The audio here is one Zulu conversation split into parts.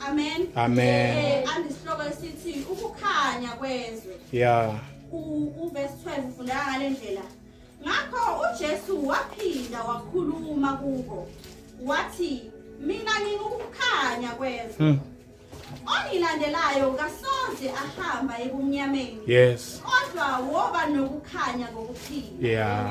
Amen. Amen. Eh andisihloko esithi ukukhanya kwezwe. Yeah. Uverse 12 ufunda ngalendlela. Ngakho uJesu waphinda wakhuluma kubo. Wathi mina ngingukukhanya kwezwe. Hmm. Ongilandelayo kasoze ahamba ebumnyameni. Yes. Kodwa woba nokukhanya kokuphila. Yeah.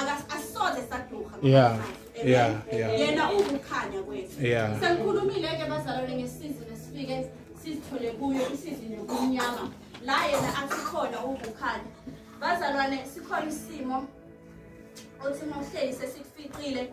akasoze saduha yeah yeah yeah yena ukukhanya kwethu yeah sengikhulumile ke bazalwane ngesizini esifike sizithole kuyo isizini yokunyama la yena asikhona ukukhanya bazalwane sikhona isimo othi mawuhleli sesikufiqile